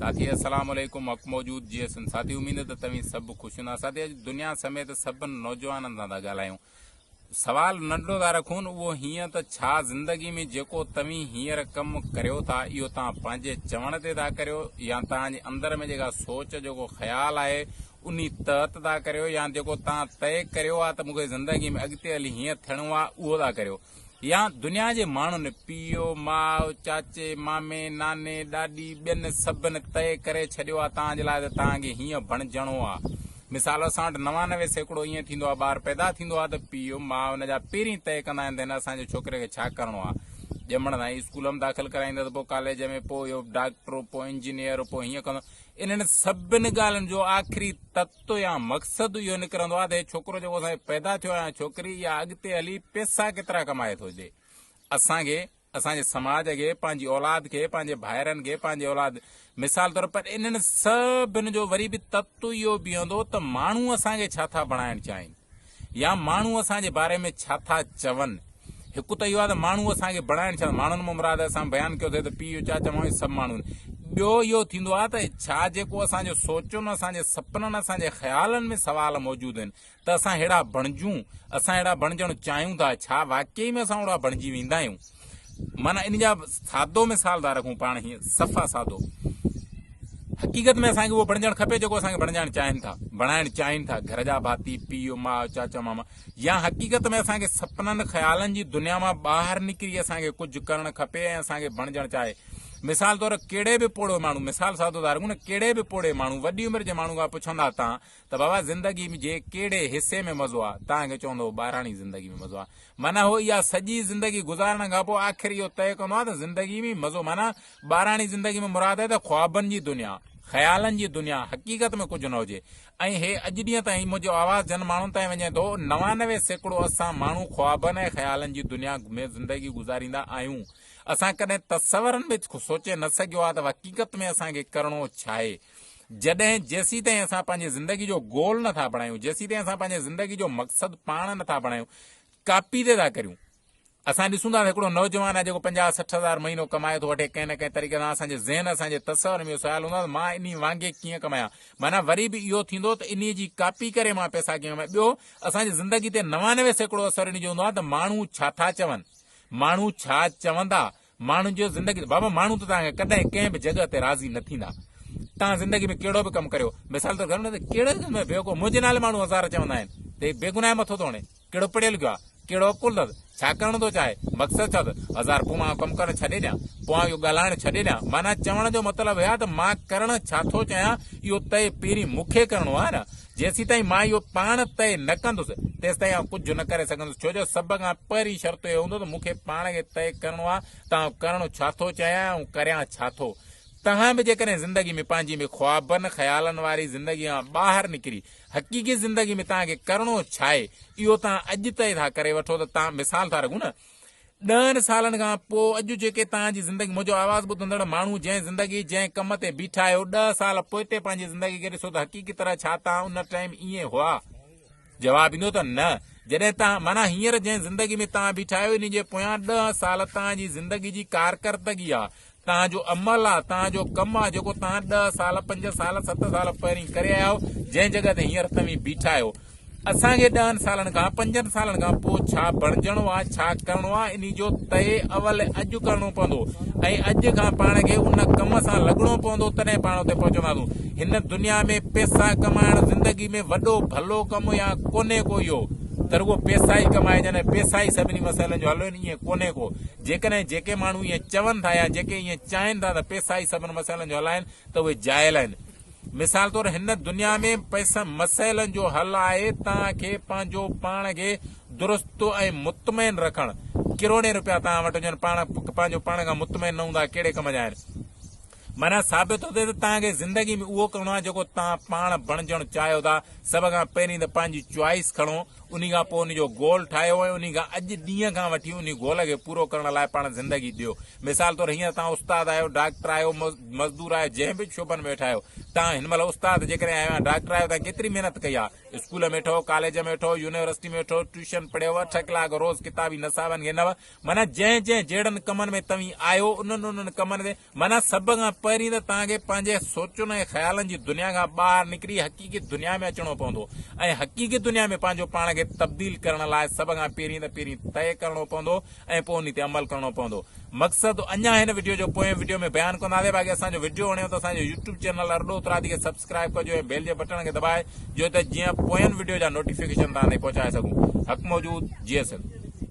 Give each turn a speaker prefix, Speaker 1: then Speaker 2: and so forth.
Speaker 1: ساٿي السلام عليڪم حق موجود جي ايس ايم ساٿي اميد ته توهين سڀ خوش هوندا ساٿي اڄ دنيا سميت سڀن نوجوانن سان ٿا ڳالهايون سوال ننڍو ٿا رکون اهو هيئن ته ڇا زندگي ۾ جيڪو توهين هينئر ڪم ڪريو ٿا اهو توهان پنهنجي چوڻ تي ٿا ڪريو يا توهان جي اندر ۾ جيڪا سوچ جيڪو خيال آهي انهي تحت ٿا ڪريو يا جيڪو توهان طئي ڪريو آهي ته مونکي زندگي ۾ اڳتي هلي هيئن ٿيڻو آهي اهو ٿا ڪريو يا دنيا جي ماڻهن، پيء، ماء، چاچي، مامي، ناني، ڏاڏي، ٻين سڀن طئي ڪري ڇڏيو آ توهان جي لاء ته توهان کي هيئن بڻجڻو آ. مثال اسان وٽ نوانوي سيڪڙو ائين ٿيندو آ ٻار پيدا ٿيندو آ ته پيء، ماء ان جا پهرين طئي ڪندا آهن ته هن اسان جي ڇوڪري کي ڇا ڪرڻو آ. ڄمڻ سان ئي اسڪول ۾ داخل ڪرائيندس، پوء ڪاليج ۾، پوء اهو ڊاڪٽر، پوء انجنيئر، پوء هيئن ڪندو. انهن سڀن ڳالهين جو آخري تت رستو يا مقصد اهو نڪرندو آهي ته هي ڇوڪرو جيڪو اسان کي پيدا ٿيو آهي يا ڇوڪري اها اڳتي هلي پيسا ڪيترا ڪمائي ٿو ڏي اسان کي اسان جي سماج کي پنهنجي اولاد کي پنهنجي ڀائرن کي پنهنجي اولاد مثال طور پر انهن سڀن جو وري به تتو اهو بيهندو ته ماڻهو اسان کي ڇا ٿا بڻائڻ چاهين يا ماڻهو اسان جي باري ۾ ڇا ٿا چون؟ هڪ ته اهو آهي ته ماڻهو اسان کي بڻائڻ ڇا؟ ماڻهن مان مراد اسان بيان ڪيو اٿئي ته پيء، چاچا، مامي سڀ ماڻهو آهن. ٻيو اهو ٿيندو آهي ته ڇا جيڪو اسان جون سوچون، اسان جي سپنن، اسان جي خيالن ۾ سوال موجود آهن ته اسان اهڙا بڻجون؟ اسان اهڙا بڻجڻ چاهيون ٿا، ڇا واقعي ۾ اسان اوڙا بڻجي ويندا آهيون؟ معنيٰ ان جا سادو مثال ٿا رکون پاڻ هيئن صفا سادو حقيقت ۾ اسان کي اهو بڻجڻ کپي جيڪو اسان کي بڻجائڻ چاهين ٿا بڻائڻ چاهين ٿا گهر جا ڀاتي پيء ماء چاچا ماما يا حقيقت ۾ اسان کي سپنن خيالن جي دنيا مان ٻاهر نڪري اسان کي ڪجهه ڪرڻ کپي ۽ اسان کي بڻجڻ چاهي مثال طور ڪهڙي به پوڙهو ماڻهو مثال سادو ڌارڪون ڪهڙي به پوڙهي ماڻهو وڏي عمر جي ماڻهو کان پڇندا تان ته بابا زندگي م جي ڪهڙي حصي ۾ مزو آ؟ تان کي چوندو هو ٻاراڻي زندگي ۾ مزو آ. معنيٰ هو اها سڄي زندگي گذارڻ کان پوء آخر اهو طئي ڪندو آ ته زندگي م مزو معنيٰ ٻاراڻي زندگي م مراد آهي ته خوابن جي دنيا، خيالن جي دنيا، حقيقت ۾ ڪجهه نه هجي. ۽ هي اڄ ڏينهن تائين منهنجو آواز جن ماڻهن تائين وڃي ٿو، نوانوي سيڪڙو اسان ماڻهو خوابن ۽ خيالن جي دنيا ۾ زندگي گذاريندا آهيون. اسان ڪڏهن تصورن ۾ سوچي نه سگهيو آ ته وقيقت ۾ اسان کي ڪرڻو ڇاهي؟ جڏهن جيسيتائين اسان پنهنجي زندگي جو گول نه ٿا بڻايون جيسيتائين اسان پنهنجي زندگي جو مقصد پاڻ نه ٿا بڻايون ڪاپي تي ٿا ڪريون اسان ڏسون ٿا هڪڙو نوجوان آهي جيڪو پنجاهه سٺ هزار مهينو ڪمائي ٿو وٺي ڪنهن نه ڪنهن طريقي سان اسان جي ذهن اسان جي تصور ۾ سوال هوندو آهي مان انهي وانگي ڪيئن ڪمايان معنيٰ وري به اهو ٿيندو ته انهي جي ڪاپي ڪري مان پئسا ڪيئن ڪمايان ٻيو اسان جي زندگي تي نوانوي سيڪڙو اثر ان جو هوندو آهي ته ماڻهو ڇا ٿا چون ماڻهو ڇا چوندا ماڻهن جو زندگي بابا ماڻهو ته توهان کي ڪڏهن ڪنهن به جڳهه تي راضي نه ٿيندا توهان زندگي ۾ ڪهڙو به ڪم ڪريو مثال طور گهر ۾ ڪهڙو ڪم ۾ بيوقوف منهنجي نالي ماڻهو هزار چوندا آهن ته بي گناهه مٿو ٿو هڻي ڪهڙو پڙهيو لکيو آهي ڪهڙو عقل اٿس ڇا ڪرڻ ٿو چاهي مقصد ڇا اٿس هزار پوء مان ڪم ڪرڻ ڇڏي ڏيان پوء آئون اهو ڳالهائڻ ڇڏي ڏيان معنيٰ چوڻ جو مطلب هي ته مان ڪرڻ ڇا ٿو چاهيان اهو طئي پهرين مون کي ڪرڻو آهي نه جيسيتائين مان اهو پاڻ طئي نه ڪندس، تيستائين آئون ڪجهه نه ڪري سگهندس، ڇو جو سڀ کان پهرين شرط اهو هوندو ته مون کي پاڻ کي طئي ڪرڻو آهي ته آئون ڪرڻ ڇا ٿو چاهيان ۽ آئون ڪريان ڇا ٿو. توهان به جيڪڏهن زندگي ۾ پنهنجي ۾ خوابن خيالن واري زندگي کان ٻاهر نڪري حقيقي زندگي ۾ توهان کي ڪرڻو ڇا آهي، اهو توهان اڄ طئي ٿا ڪري وٺو ته توهان مثال ٿا رڳو نه، ڏهن سالن کان پوء اڄ جيڪي توهان جي زندگي منهنجو آواز ٻڌندڙ ماڻهو جنهن زندگي جنهن ڪم تي بيٺا آهيو ڏهه سال پوئتي پنهنجي زندگي کي ڏسو ته حقيقي طرح ڇا توهان ان ٽائيم ائين هئا جواب ايندو ته نه جڏهن توهان معنيٰ هينئر جنهن زندگي ۾ توهان بيٺا آهيو ان جي پويان ڏهه سال توهان جي زندگي جي ڪارڪردگي آهي توهان جو عمل آ، توهان جو ڪم آ، جيڪو توهان ڏهه سال، پنج سال، ست سال پهرين ڪري آيا آهيو، جنهن جڳهه تي هينئر توهين بيٺا آهيو. اسان کي ڏهن سالن کان، پنجن سالن کان پوء ڇا بڻجڻو آ، ڇا ڪرڻو آ، انهي جو طئي اول اڄ ڪرڻو پوندو ۽ اڄ کان پاڻ کي ان ڪم سان لڳڻو پوندو، تڏهن پاڻ اتي پهچنداسون. هن دنيا ۾ پيسا ڪمائڻ زندگي ۾ وڏو ڀلو ڪم يا ڪونهي ڪو اهو، ته رڳو پيسا ئي ڪمائجن ۽ پيسا ئي سڀني مسئلن جو حل هجن، ائين ڪونهي ڪو. جيڪڏهن جيڪي ماڻهو ائين چون ٿا يا جيڪي ائين چاهين ٿا ته پئسا ئي سڀن مسئلن جو حل آهن ته اهي جاهل آهن. مثال طور هن دنيا ۾ پئسن مسئلن جو حل آهي توهان کي پنهنجو پاڻ کي درست ۽ مطمئن رکڻ. ڪروڙين روپيا توهان وٽ هجن پاڻ پنهنجو پاڻ کان مطمئن نه هوندا ڪهڙي ڪم جا آهن. معنيٰ ثابت ٿو ٿئي ته توهان کي زندگي ۾ اهو ڪرڻو آهي جيڪو توهان پاڻ بڻجڻ چاهيو ٿا. سڀ کان پهرين ته پنهنجي چوائيس کڻو، انهي کان پوء ان جو گول ٺاهيو ۽ انهي کان اڄ ڏينهن کان وٺي انهي گول کي پورو ڪرڻ لاء پاڻ زندگي ڏيو. مثال طور هينئر توهان استاد آهيو، ڊاڪٽر آهيو، مزدور آهيو، جنهن به شعبن ۾ ويٺا آهيو. توهان هن مهل استاد جيڪڏهن آهيو يا ڊاڪٽر آهيو توهان ڪيتري محنت ڪئي آهي. اسڪول ۾ ويٺو، ڪاليج ۾ ويٺو، يونيورسٽي ۾ ويٺو، ٽيوشن پڙهيو، اٺ ڪلاڪ روز ڪتابي نصابن کي نه معنيٰ جنهن جنهن جهڙن ڪمن ۾ توهين آهيو، انهن انهن ڪمن تي، معنيٰ سڀ کان پهرين ته توهان کي پنهنجي سوچن ۽ خيالن جي دنيا کان ٻاهر نڪري حقيقي دنيا ۾ اچڻو پوندو ۽ حقيقي دنيا ۾ پنهنجو پاڻ کي تبديل ڪرڻ لاء سڀ کان پهرين ته پهرين طئي ڪرڻو پوندو ۽ پوء انهي تي عمل ڪرڻو پوندو. مقصد اڃان هن وڊيو جو پوئين وڊيو ۾ بيان ڪنداسين باقي اسان جو وڊيو وڻيو ته اسان جو يوٽيوب چينل ارڏو اترادي کي سبسڪرائيب ڪجو ۽ بيل جي بٽڻ کي دٻائي جو ته جيئن پوئين وڊيو جا نوٽيفڪيشن توهان تائين پهچائي سگهون. حق موجود جيئي سنڌ.